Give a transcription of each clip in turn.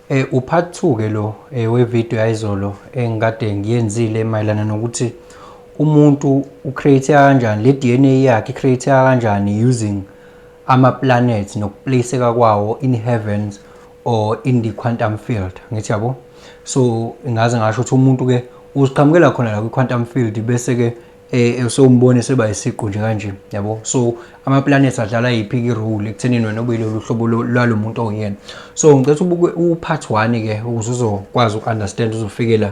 Eh u part 2 ke lo eh, we video yayizolo engikade eh, ngiyenzile mayelana nokuthi umuntu u create kanjani le DNA yakhe create kanjani using ama planets nokuplaceka kwawo in heavens or in the quantum field ngithi yabo so ngaze ngasho ukuthi umuntu ke uziqhamukela khona la kwi quantum field bese ke eh sewumbone seba isiqu nje kanje yabo so ama planets adlala yiphi ki role ekuthenini wena ube lolu hlobo lwalo muntu oyena so ngicela ubuke u part 1 ke ukuze uzokwazi uku understand uzofikela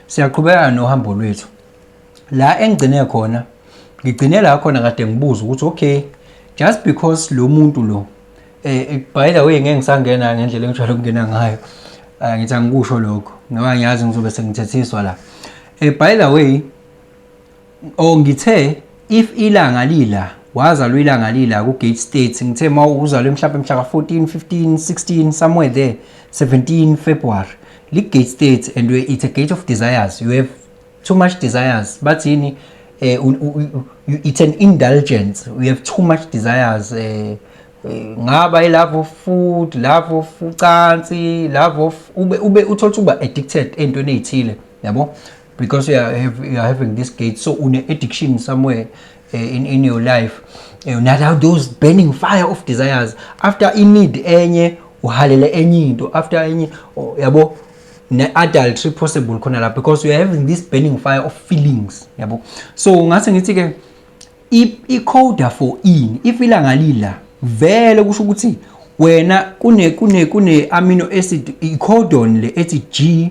siyaqhubeka nohambo lwethu la engigcine khona ngigcine la khona kade ngibuza ukuthi okay just because lo muntu lo eh by the way ngeke ngisangena ngendlela engijwayele ukungena ngayo eh, ngithi angikusho lokho ngoba ngiyazi ngizobe sengithethiswa la eh by the way Oh ngithe if ilanga lila wazalwa ilanga lila ku gate state ngithe ma uzalwe mhlawumbe mhla ka 14 15 16 somewhere there 17 February li gate state and we it's a gate of desires you have too much desires bathini eh it's an indulgence we have too much desires eh, eh ngaba ilove of food love of ucansi love of ube ube uthola uba addicted entweni ezithile yabo because you are, have, you are having this gate so une addiction somewhere uh, in, in your life uh, eh, now those burning fire of desires after in need enye uhalele enye into after enye oh, yabo ne-adultery possible khona la because you are having this burning fire of feelings yabo so ngase ngithi ke i-coda for in if ilanga lila vele kusho ukuthi wena kune kune kune amino acid i-codon le ethi G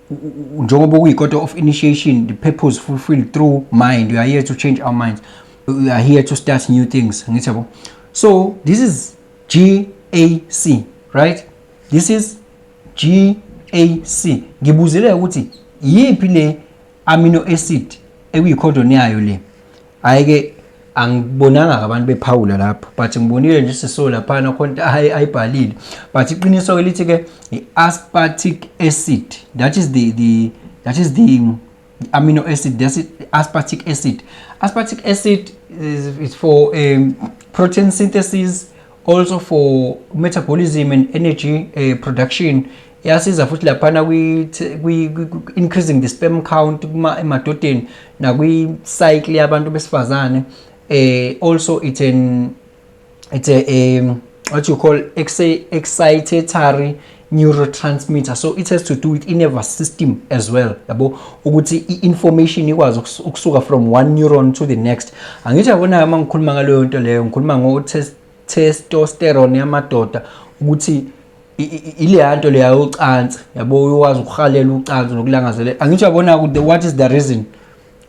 njengoba kuyi-quarter of initiation the purpose fulfilled through mind we are here to change our minds we are here to start new things ngithi yabo so this is g a c right this is g a c ngibuzile ukuthi yiphi le amino acid ekuyikhondoni yayo le Hayi ke angibonanga abantu bephawula lapho but ngibonile nje siso laphana khona ayibhalile but iqiniso elithi ke i-aspartic acid that is the the that is the amino acid that's it, aspartic acid aspartic acid is, is for um, protein synthesis also for metabolism and energy uh, production yasiza futhi laphana kwi-increasing the sperm count emadodeni nakwi-cycle yabantu besifazane eh also it's an it's a um, what you call excitatory neurotransmitter so it has to do with i-nervous system as well yabo ukuthi i-information ikwazi ukusuka from one neuron to the next angithi yabona uma ngikhuluma ngaleyo nto leyo ngikhuluma ngo-test testosterone yamadoda ukuthi ileya nto leya yocansi yabo uyokwazi ukuhalela ucansi nokulangazelela angithi uyabona ukuthi what is the reason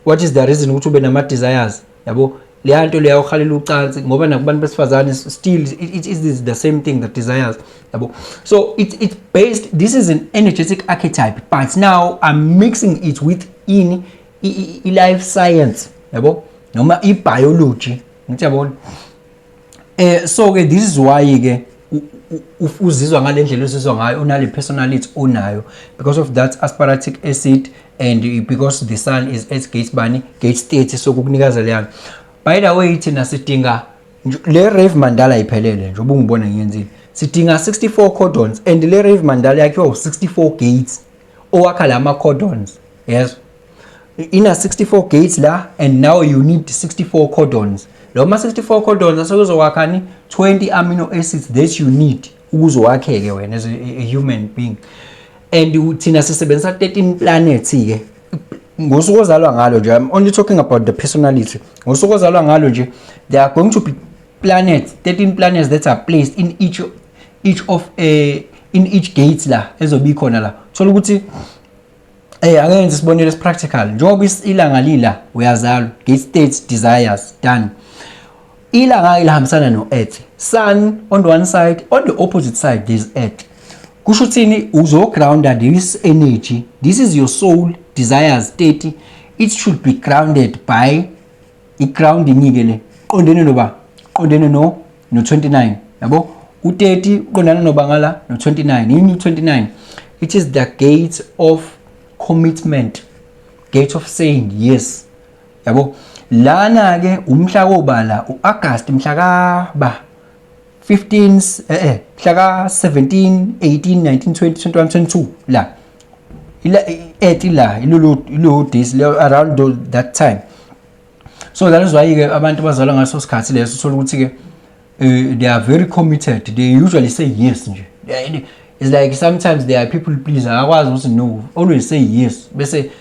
what is the reason ukuthi ube nama-desires yabo leya nto leya uhalela ucansi ngoba nakubantu besifazane still it, it is the same thing the desires yabo so it's, it's based this is an energetic archetype but now i'm mixing it with ini i-life science yabo noma i-biology ngithi yabona Eh so ke this is why ke uzizwa ngalendlela uzizwa ngayo unale personality onayo because of that asparatic acid and because the sun is at gate bani gate state so kukunikeza leyana by the way thina sidinga le rave mandala iphelele nje ubungibona ngiyenzile sidinga 64 cordons and le rave mandala yakhiwa u64 gates owakha lama cordons yes ina 64 gates la and now you need 64 codons lo ma 64 codons asekuzowakha 20 amino acids that you need ukuze wakheke wena as a, a human being and thina sisebenzisa 13 planets ke ngosuku ozalwa ngalo nje i'm only talking about the personality ngosuku ozalwa ngalo nje there are going to be planets 13 planets that are placed in each each of a eh, in each gate la ezobikhona la thola ukuthi Hey eh, akenze isibonelo esipractical njengoba ilanga lila uyazalwa gate state desires done ilanga ilihambisana no earth sun on the one side on the opposite side there is earth kusho uthini uzogrounda this energy this is your soul desires state it should be grounded by iground inike le qondene noba qondene no no 29 yabo u30 uqondana noba ngala no 29 yini u29 it is the gate of commitment gate of saying yes yabo lana ke umhla wobala uAugust mhla ka ba 15 eh eh mhla ka 17 18 19 20 21 22 la ila ethi la ilulu ilulu this around that time so that is why ke abantu bazalwa ngaso sikhathi leso uthola ukuthi ke eh, they are very committed they usually say yes nje it's like sometimes there are people please akakwazi ukuthi no always say yes bese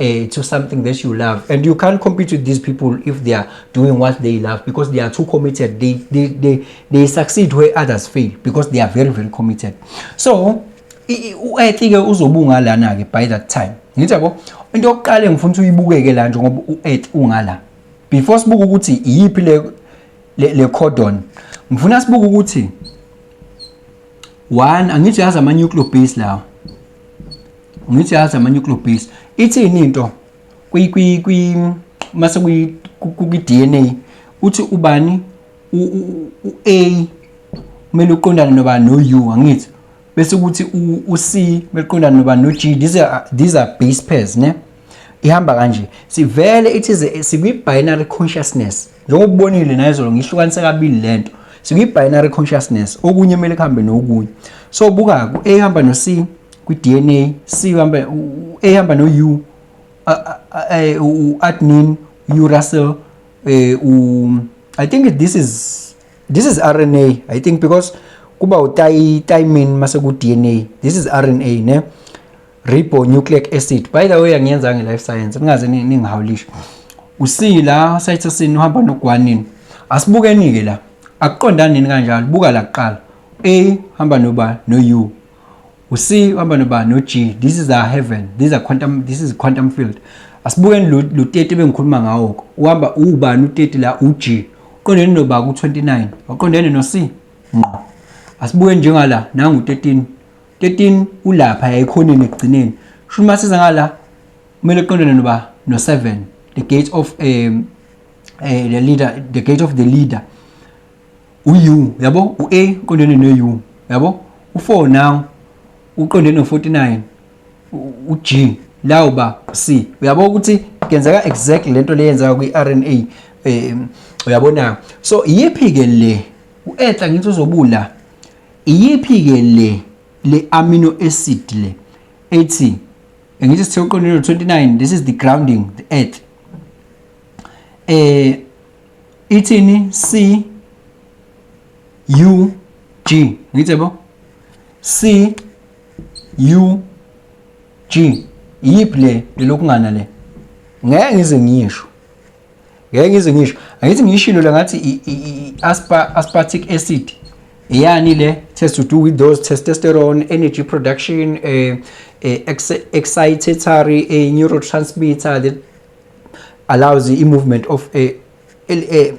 uh, to something that you love and you can't compete with these people if they are doing what they love because they are too committed they they they, they succeed where others fail because they are very very committed so u-ethi ke uzobunga lana ke by that time ngithi yabo into yokuqala engifuna ukuthi uyibukeke la nje ngoba u-ethi ungala before sibuke ukuthi iyiphi le le cordon ngifuna sibuke ukuthi one angithi yazi ama nuclear base lawo ngithi yazi ama-nuclear base ithini into mase kwi-dna uthi ubani u-a kumele uqondane noba no-u angithi bese kuthi u-c kumele uqondane noba no-g these are, these are base pairs ne ihamba kanje sivele ithize sikwi-binary consciousness njengoba ubonile nayizolo ngihlukanise kabili le nto sikwi-binary consciousness okunye kumele kuhambe nokunye so buka ku-a ihamba no-c kwi-dna c uhamba a ihamba no-u u-admin u russell um i think this is this is r n a i think because kuba utayi tayimin mase ku-d n a this is r n a ne ribonucleic acid by the way angiyenza nge-life science ningaze ningihawulishe usila cytosine uhamba nogwanini asibukeni-ke la akuqondani nini kanjalo buka la kuqala a hamba noba no-u u-c uhamba noba no-g this is our heaven this is, quantum, this is quantum field asibukeni lo teti bengikhuluma ngawo-ko uhamba ubani uteti la u-g uqondene noba ku-29 waqondene no-c ngqo asibuke njengala nangu-13 13 ulapha yayikhoneni ekugcineni shuthi masiza ngala kumele uqondane noba no-7 the gate of um, uh, the leader the gate of the leader uyu yabo u-a uqondene no-u yabo u-4 now uqondene no-49 u-g la uba u-c uyabo ukuthi kuyenzeka exactly lento leyenzeka kwi-rna um uyabona so iyiphi-ke le u-etha ngithi uzobula Iyiphi ke le le amino acid le ethi ngithi sithe uqondelo 29 this is the grounding the earth eh ithini C U G ngithe bo C U G iyiphi le lokungana le ngeke ngize ngiyisho ngeke ngize ngisho angithi ngiyishilo le ngathi i-aspartic acid yani le test to do with those testosterone energy production uh, uh, excitatory uh, neurotransmitter that allows the movement of uh, uh,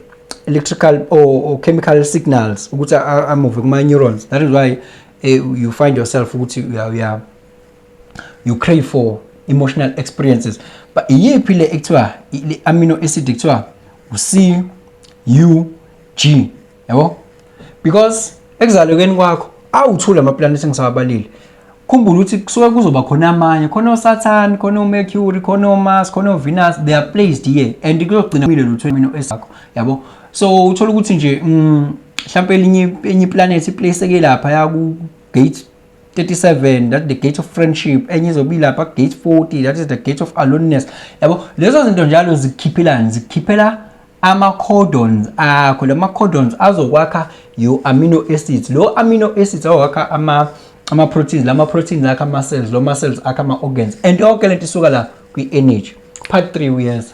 electrical or, or chemical signals ukuthi amove kuma neurons that is why uh, you find yourself ukuthi uya uya you crave for emotional experiences but iyiphi le ekuthiwa le amino acid ekuthiwa uC U G yabo because ekuzalekeni kwakho awuthula ama planet engisawabalile khumbula ukuthi kusuke kuzoba khona amanye khona uSaturn khona uMercury khona uMars khona uVenus they are placed here and kuyogcina kumile lutho amino esakho yabo so uthola ukuthi nje mm, mhlawumbe elinye enye iplanet iplace ke lapha ya ku gate 37 that the gate of friendship enye izobe ilapha gate 40 that is the gate of aloneness yabo lezo zinto njalo zikhiphelani zikhiphela ama-codons akho la ma-codons azokwakha your amino acids lo amino acids azokwakha ama ama-proteins la ma-proteins akha ama-cells lo ma-cells akha ama-organs and yonke lento isuka la kwi-energy part 3 uyeza